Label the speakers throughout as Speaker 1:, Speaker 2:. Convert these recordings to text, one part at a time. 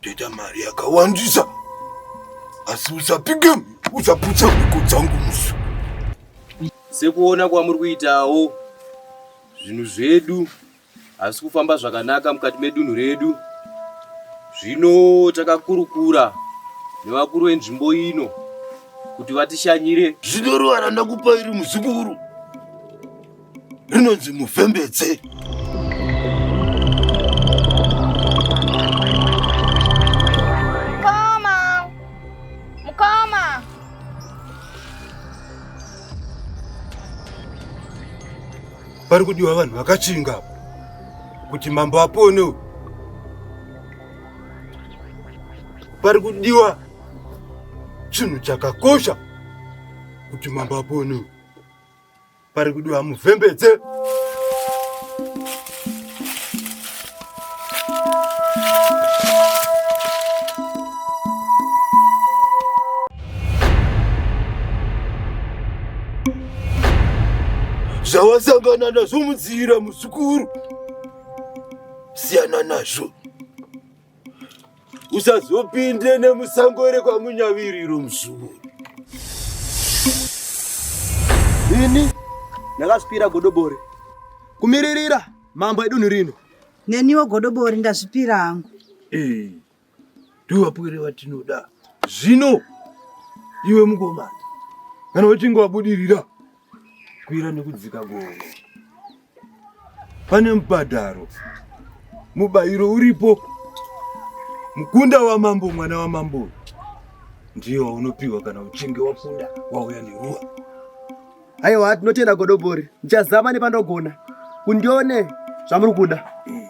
Speaker 1: Ndoita mari yakawandisa asi usapike usaputsa mhiko dzangu musu. Sekuona kwamuri kuitawo zvinhu zvedu hazvisi kufamba zvakanaka mukati medunhu redu. Zvino takakurukura nevakuru venzvimbo ino kuti vatishanyire. Zvinorwara ndakupa iri muzukuru. rinonzi muvhembedze Mkoma! Mkoma! pari kudiwa vanhu vakachinga apa kuti mambo apone uyu. pari kudiwa chinhu chakakosha kuti mambo apone uyu. pari kudiwa muvhembedze zvawasangana nazvo mudziira muzukuru siyana nazvo usazopinde nemusango ere kwamunyaviriro muzukuru ini ndakazvipira godobori kumiririra mambo edunhu rino neniwo godobori ndazvipira hangu eh, ndiwapwere vatinoda zvino iwe mukomana kana uchinge wabudirira kukwira nekudzika gomo pane mubhadharo mubayiro uripo mukunda wamambo mwana wamambo ndiyo waunopiwa kana uchinge wakunda wauya neruwa aiwa tinotenda godobori ndichazama nepanogona kundione zvamuri kuda mm.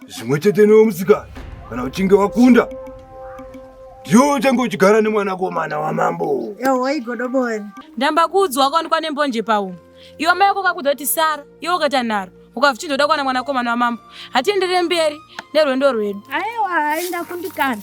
Speaker 1: zvimwe chete newe musikana kana uchinge wakunda ndiwo uchange uchigara nemwanakomana wamambo ewo igodobori ndamba kuudzwa wakaonekwa nembonje paumwe iwe mai yako kakudoti sara iwe ukaita nharo ukavichindoda kuwana mwanakomana wamambo hatienderere mberi nerwendo rwedu aiwa hainda kundikana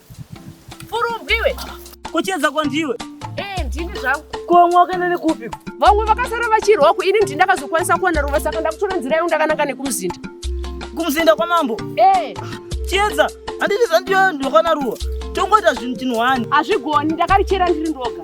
Speaker 1: Furumbi iwe. Kucheza kwandiwe. Eh, ndini zvangu. Komwa wakaenda nekupi? Vamwe vakasara vachirwa ku ini ndini ndakazokwanisa kuwana ruva saka ndakutora nzira yangu ndakananga nekumuzinda. Kumuzinda kwamambo? Eh. Chiedza, handiti zvandiyo ndokwana ruwa. Tongoita zvinhu chinhu wani. Hazvigoni, ndakarichera ndiri ndoga.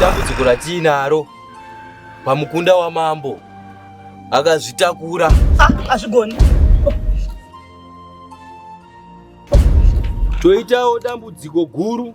Speaker 1: dambudziko ratiinaro pamukunda wamambo akazvitakura hazvigoni ah, toitawo dambudziko guru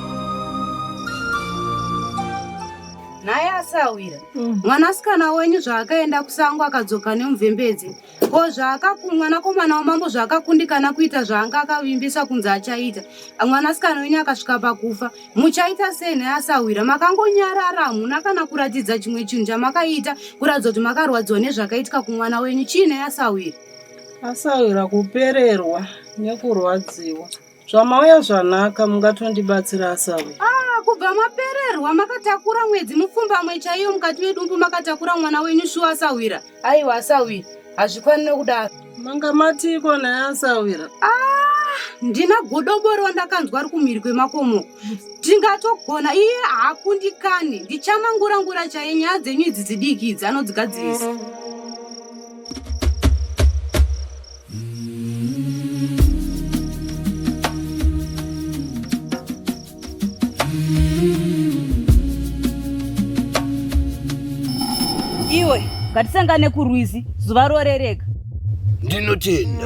Speaker 1: nhai asawira mm. mwanasikana wenyu zvaakaenda kusango akadzoka nemuvhembedze ko zvaakaku mwanakomana wamambo zvaakakundikana kuita zvaanga akavimbisa kunzi achaita mwanasikana wenyu akasvika pakufa muchaita sei nhai asawira makangonyarara hamuna kana kuratidza chimwe chinhu chamakaita kuratidza kuti makarwadziwa nezvakaitika kumwana wenyu chii nhai asawira asawira kupererwa nekurwadziwa Zvamauya zvanaka, mungatondibatsira asawe. Ah, kubva mapererwa makatakura mwedzi mupfumbamwe chaiyo mukati medumbu makatakura mwana wenyu shuwa asahwira. Aiwa asahwira, hazvikwanire kudaro. Manga matiko naye asahwira. Ah, ndina godobori wandakanzwa ari kumhiri kwemakomo. Tingatogona iye haakundikani. Ndichamangura ngura chaiye nyaya dzenyu idzi dzidiki idzi anodzigadzirisa. ngatisangane kurwizi zuva rorereka ndinotenda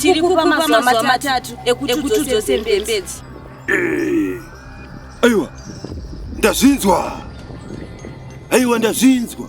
Speaker 1: tiri kukupa mazuva matatu ekuti udzose mbembedzi eh, aiwa ndazvinzwa aiwa ndazvinzwa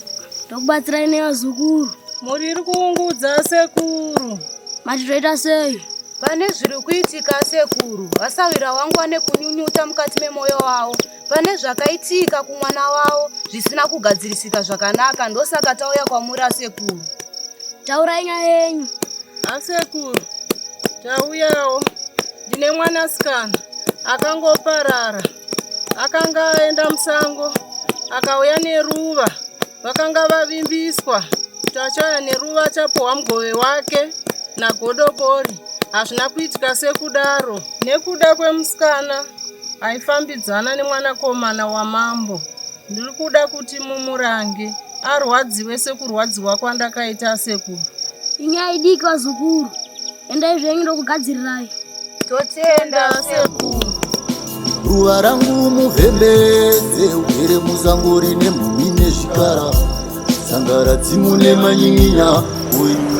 Speaker 1: ndokubatsirai nevazukuru mhuri iri kuungudza sekuru mati toita sei pane zviri kuitika sekuru vasawira wangu ane kunyunyuta mukati memwoyo wavo pane zvakaitika kumwana wavo zvisina kugadzirisika zvakanaka ndosaka tauya kwamuri asekuru taurai nyaya yenyu asekuru tauyawo ndine mwanasikana akangoparara akanga aenda musango akauya neruva vakanga vavimbiswa kuti achauya neruva achapuhwa mugove wake nagodobori hazvina kuitika sekudaro nekuda kwemusikana aifambidzana nemwanakomana wamambo ndiri kuda kuti mumurange arwadziwe sekurwadziwa kwandakaita sekuru inyaya idiki vazukuru Endai zvenyu ndokugadzirirai. Totenda sekuru. Ruva rangu muvhembedze ugere muzango rine mhumi nezvikara sangara dzimu nemanyinya uyu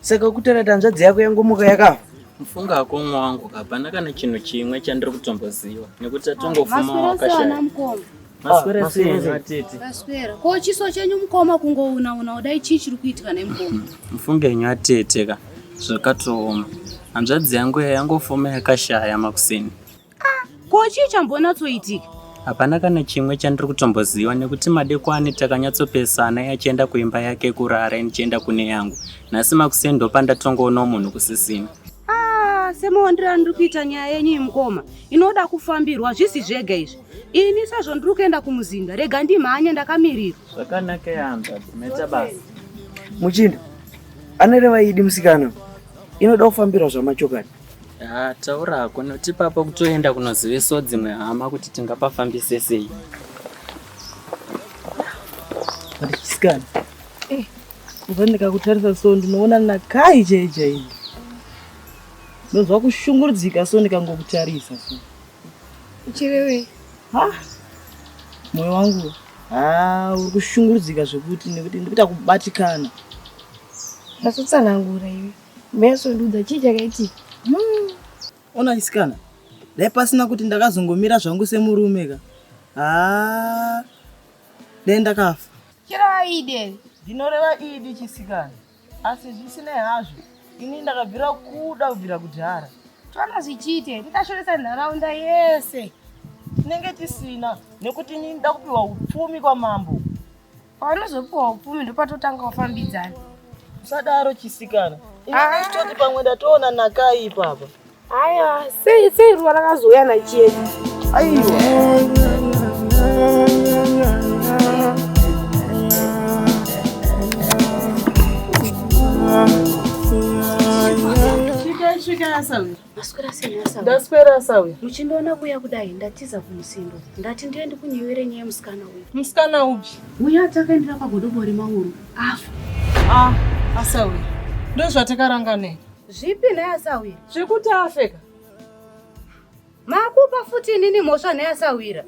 Speaker 1: Saka ukutaura kuti hanzvadzi yako yangomuka yakafa? Mufunga hako mwa wangu hapana kana chinhu chimwe chandiri kutomboziva nekuti tatongofuma wakashaya. Maswera sei ah, atete? Maswera. Ko chiso chenyu mukoma kungouna una udai chii chiri kuitika nemukoma? Mufunga henyu atete ka zvakatooma. Hanzvadzi yangu yangofuma yakashaya makuseni. Ah, ko chii chambonatsoitika? Hapana kana chimwe chandiri kutomboziva nekuti madekwani takanyatsopesana yachienda kuimba yake kurara inichienda kune yangu. Nhasi makuseni ndopandatongoonawo munhu kusisina. Ah, semaondiro andiri kuita nyaya yenyu imukoma inoda kufambirwa zvisi zvega izvi. Ini sezvo ndiri kuenda kumuzinda rega ndimhanye ndakamirira. Zvakanaka yamba, meta basa. Muchinda, anoreva idi musikana inoda kufambirwa zvamachokati. Haa taura hako noti papa kutoenda kunozivisawo dzimwe hama kuti tingapafambise sei. Chisikana. Eh, kubva ndikakutarisa so ndinoona nakai chai chai. Ndonzwa kushungurudzika so ndikangokutarisa so. Chirewe. Ha? Moyo wangu. Ah, uri kushungurudzika zvekuti nekuti ndikuita kubatikana. Ndasutsanangura iwe. Meso ndudza chii chakaitika? Hmm. Ona chisikana. Dai pasina kuti ndakazongomira zvangu semurume ka. Haa. Dai ndakafa. Chirova idi ere? Ndinoreva idi chisikana. Asi zvisinei hazvo, ini ndakabvira kuda kubvira kudhara. Tona zvichiite, tikashoresa nharaunda yese. Tinenge tisina nekuti ini ndakupiwa upfumi kwamambo. Paunozopiwa upfumi ndopatotanga kufambidzana. Usadaro chisikana. Ah. Ini choti pamwe ndatoona nakai ipapa. Haya, sei sei ruva rakazouya nachiedu. Aiwa. Shika shika sawi. Maswera sei nhasi? Ndaswera asa uya. Muchindiona kuya kudai ndatiza kumusindo. Ndati ndiye ndikunyewere nyaya musikana uyu. Musikana upi? Uya atakaendera pagodobo remauru afa. Ah, asa uya. Ndozvatakaranga nei? Zvipi naye asa uya? Zvekuti afeka. Makupa futi inini mhosva naye asawira.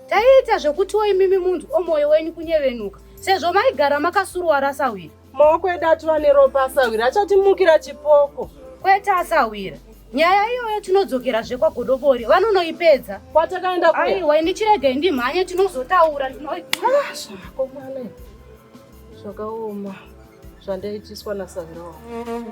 Speaker 1: Taiita zvekutiwo imimi munhu omwoyo wenyu kunyevenuka sezvo maigara makasuruwara asawira. Maoko edu atova neropa asahwira achatimukira chipoko. Kwete asahwira. Nyaya iyoyo tinodzokerazve kwagodobori vanonoipedza. Kwatakaenda kuya. Aiwa ini chiregei ndimhanye tinozotaura ndinoiaa zvako mwana. Zvakaoma zvandaitiswa nasahwira wangu.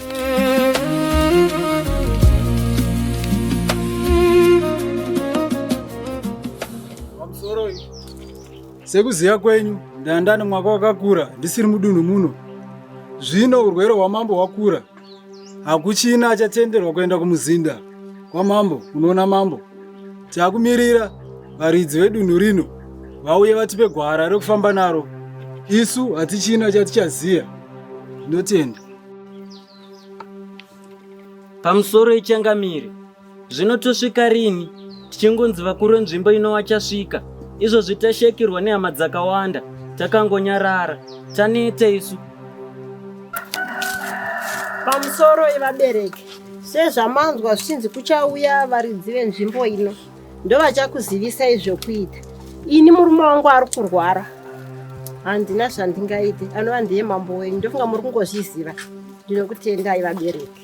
Speaker 1: Sekuziva kwenyu ndandani mwaka wakakura ndisiri mudunhu muno zvino urwere hwamambo hwakura hakuchina achatenderwa kuenda kumuzinda kwamambo unoona mambo takumirira varidzi vedunhu rino vauye vatipe gwara rekufamba naro isu hatichina chatichaziva ndotenda Pamusoro ichangamire, zvino tosvika rini tichingonzi vakuru venzvimbo ino vachasvika? Izvozvi tashekerwa nehama dzakawanda, takangonyarara, taneta isu. Pamusoro ivabereki, sezvamanzwa zvichinzi kuchauya varidzi venzvimbo ino. ndovachakuzivisai zvekuita ini murume wangu ari kurwara handina zvandingaite anova ndiye mambo wenyu ndofunga muri kungozviziva ndinokutendai vabereki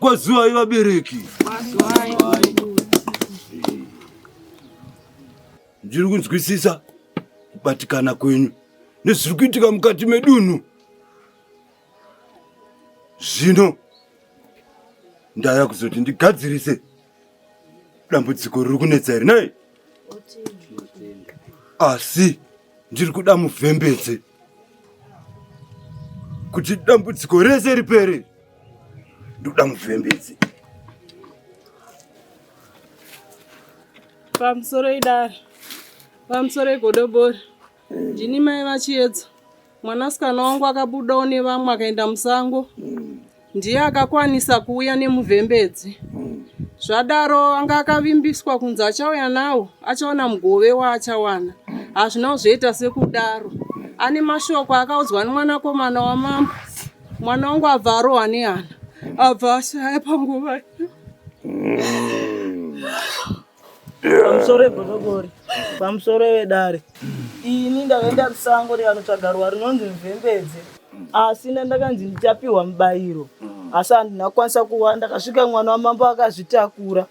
Speaker 1: Mazuwa ivabereki ndiri kunzwisisa kubatikana kwenyu nezviri kuitika mukati medunhu. zvino ndaya kuzoti ndigadzirise dambudziko riri kunetsa here nei asi ndiri kuda muvhembedze kuti dambudziko rese ripere ndoda muvhembedze pamusoro idare pamusoro egodobori Ndini mai vachiedza. Mwanasikana wangu akabudawo nevamwe akaenda musango. Ndiye akakwanisa kuuya nemuvhembedzi. Zvadaro anga akavimbiswa kunzi achauya nawo achawana mugove waachawana. Hazvina kuzviita sekudaro. Ane mashoko akaudzwa nemwanakomana wamambo. Mwana wangu abva arohwa nehana. Abva ashaya panguva iyo. pamusoro egodobori pamusoro vedare ini ndakaenda kusango revanotsvaga ruwa rinonzi mvembedze asi ndandakanzi ndichapiwa mubayiro asi handina kukwanisa kuwa ndakasvika mwana wamambo akazvitakura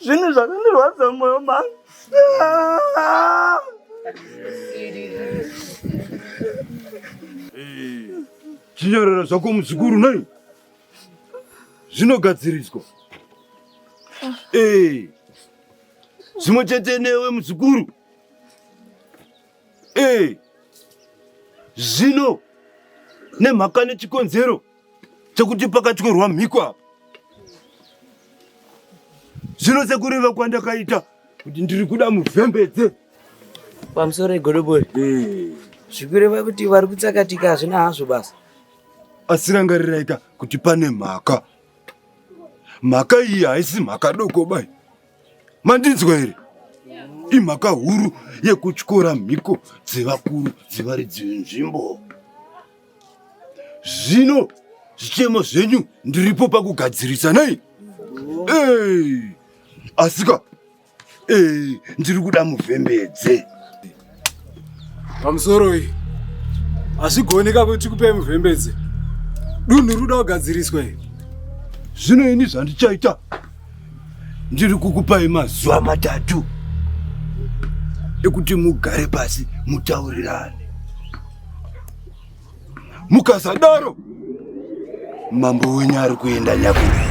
Speaker 1: zvinhu zvakandirwadza mumwoyo mangu Chinyororo zvako muzukuru nei? zvinogadziriswa ah. eh. zvimwe chete newe muzukuru eh. zvino nemhaka nechikonzero chekuti pakatyorwa mhiko apa zvino sekureva kwandakaita kuti ndiri kuda muvhembedze pamusoro egodobori eh. zvikureva kuti vari kutsakatika hazvina hazvo basa asi rangariraika kuti pane mhaka mhaka iyi haisi mhaka doko bai mandinzwa here imhaka huru yekutyora mhiko dzevakuru dzevaridzi venzvimbo zvino zvichemo zvenyu ndiripo pakugadzirisa nei asika Eh, ndiri kuda muvhembedze pamusoro iyi hazvigoneka kuti kupe muvhembedze dunhu ruda kugadziriswa iyi zvino ini zvandichaita ndiri kukupai mazuva matatu ekuti mugare pasi mutaurirane mukasadaro mambo wenyu ari kuenda nyakurira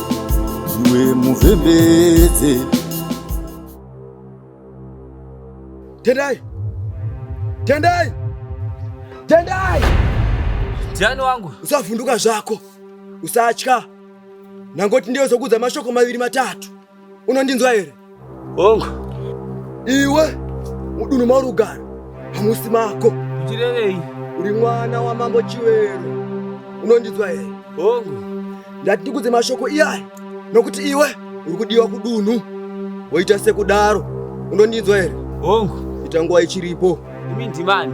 Speaker 1: iwe muvhembedze tendai tendai tendai jani wangu usavhunduka zvako usatya nangoti ndiyo zokudza mashoko maviri matatu unondinzwa here Hongu. Iwe mudunhu mauri kugara hamusi mako. Uchirevei? Uri mwana wamambo Chiwero. Unondinzwa here? Hongu. Ndati ndikudze mashoko iyaya nokuti iwe uri kudiwa kudunhu woita sekudaro. Unondinzwa here? Hongu. Ita nguva ichiripo. Imi ndimani?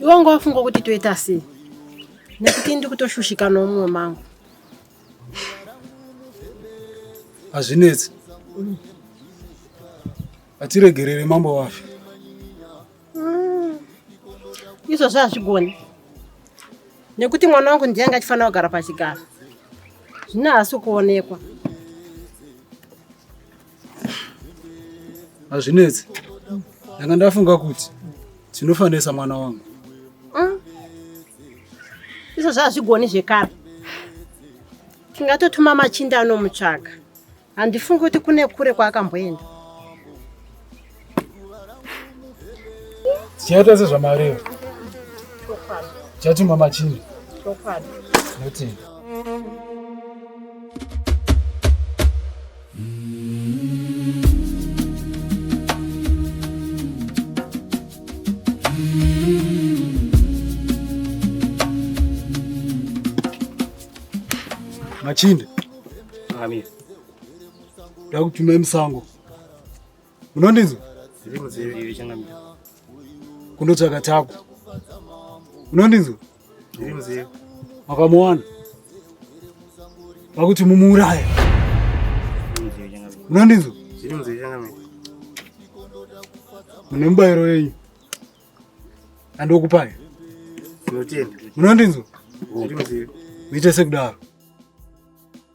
Speaker 1: iwe ungawafunga kuti toita sei nekuti ndi kutoshushika nomumwe mangu hazvinetsi hatiregerere mambo wafe mm. izvozvo hazvigoni nekuti mwana wangu ndiye anga achifanira kugara pachigaro zvino haasi kuonekwa hazvinetsi ndanga ndafunga kuti tinofanesa mwana wangu mm. izvo zvazvigoni zvekare tingatotuma machinda anomutsvaga handifungi kuti kune kure kwaakamboenda tichaita sezvamareva tichatumwa machinda notini machinde ndakutumai musango unondinzwa kundotsvaka tako unondinzwa makamuwana vakuti mumuuraya unondinzwa mune mubayiro yenyu andokupai unondinzwa muite sekudaro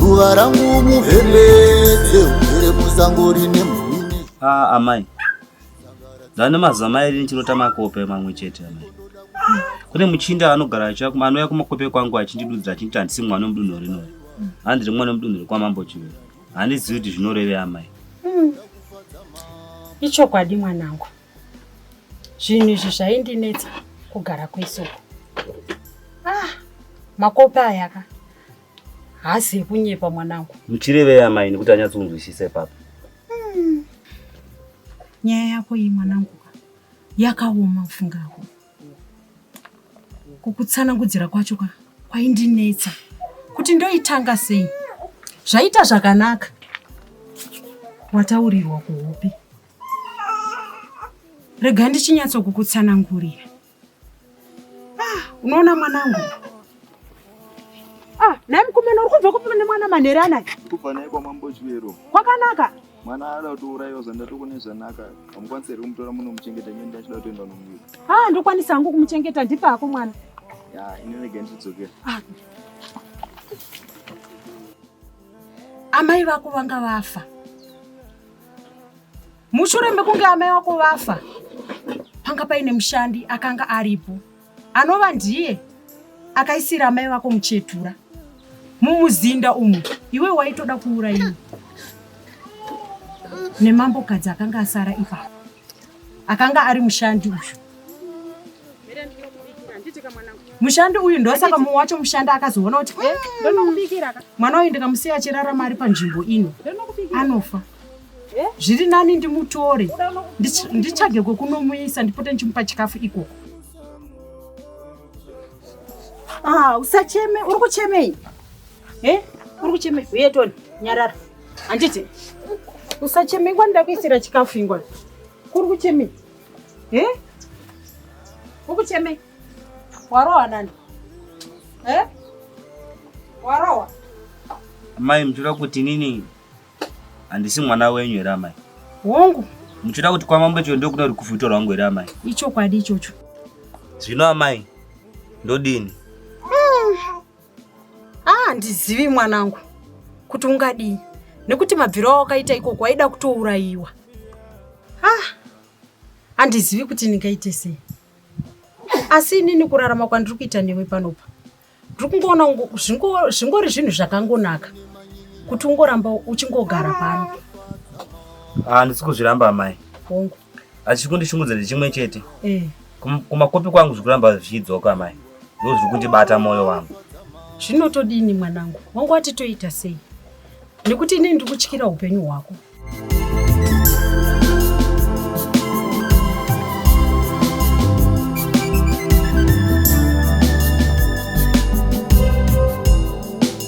Speaker 1: ruva rangu muheledze ugere musango rine mhumini ah, amai ndane mazuva mairi ndichinota makope mamwe chete amai kune muchinda anogara achiva anouya kumakope kwangu achindidudzira achinditi handisi mwana wemudunhu rinori handi ndiri mwana wemudunhu rekwamambo chivero handizivi kuti zvinorevei amai hmm. ichokwadi mwanangu zvinhu izvi zvaindinetsa kugara kwese uku ah, makope aya ka haasi ekunyepa mwanangu muchirevei amai nekuti anyatsonzwisisa ipapa hmm. nyaya yako iyi mwanangu ka yakaoma kufunga ako kukutsanangudzira kwacho ka kwaindinetsa kuti ndoitanga sei zvaita zvakanaka wataurirwa kuhope Rega ndichinyatso kukutsanangurira. Ah, unoona mwanangu. Ah, naye mukomana uri kubva kupi nemwana manhere anaye? Kubva naye kwamambo Chivero. Kwakanaka. Mwana ada kutouraiwa zvandati kune zvanaka. Hamukwanisi here kumutora muno muchengeta nyenda achida kutoenda nomunyika. Ah, ndokwanisa hangu kumuchengeta ndipa hako mwana. Ya, ini rega ndichidzokera. Ah. Amai vako vanga vafa. Mushure mekunge amai wako vafa, panga paine mushandi akanga aripo anova ndiye akaisira amai vako muchetura mumuzinda umu. Iwe waitoda kuuraiwa nemambokadzi akanga asara ipapo. akanga ari mushandi uyu mushandi uyu ndosaka mumwe wacho mushandi akazoona kuti eh, mm, mwana uyu ndikamusiya achirarama ari panzvimbo ino anofa eh? zviri nani ndimutore nditsvage kwekunomuisa ndipote ndichimupa chikafu ikoko ah, usacheme uri kuchemei Eh, uri kucheme huye Tony, nyarara. Handiti usacheme ingwa ndakuisira chikafu ingwa. Kuri kucheme. Eh? Uri kucheme. Warowa nani? Eh? Warowa. Amai mchura kuti nini? Handisi mwana wenyu here amai? Hongu. Muchura kuti kwamambo chio ndokuda kuti kufutora wangu here amai? Ichokwadi ichocho. Zvino amai ndodini? Ah, ndizivi mwanangu kuti ungadii nekuti mabviro awakaita ikoko waida kutourayiwa. Ah, handizivi kuti ndingaite sei asi inini kurarama kwandiri kuita newe panopa ndiri kungoona ungo- zvingo- zvingori zvinhu zvakangonaka kuti ungoramba uchingogara pano handisi kuzviramba amai hongu asi chiri kundishungurudza ndechimwe chete eh. kumakopi kwangu zviri kuramba zvichidzoka amai ndo zviri kundibata mwoyo wangu zvinotodini mwanangu wangu wati toita sei nekuti inini ndiri kutyira upenyu hwako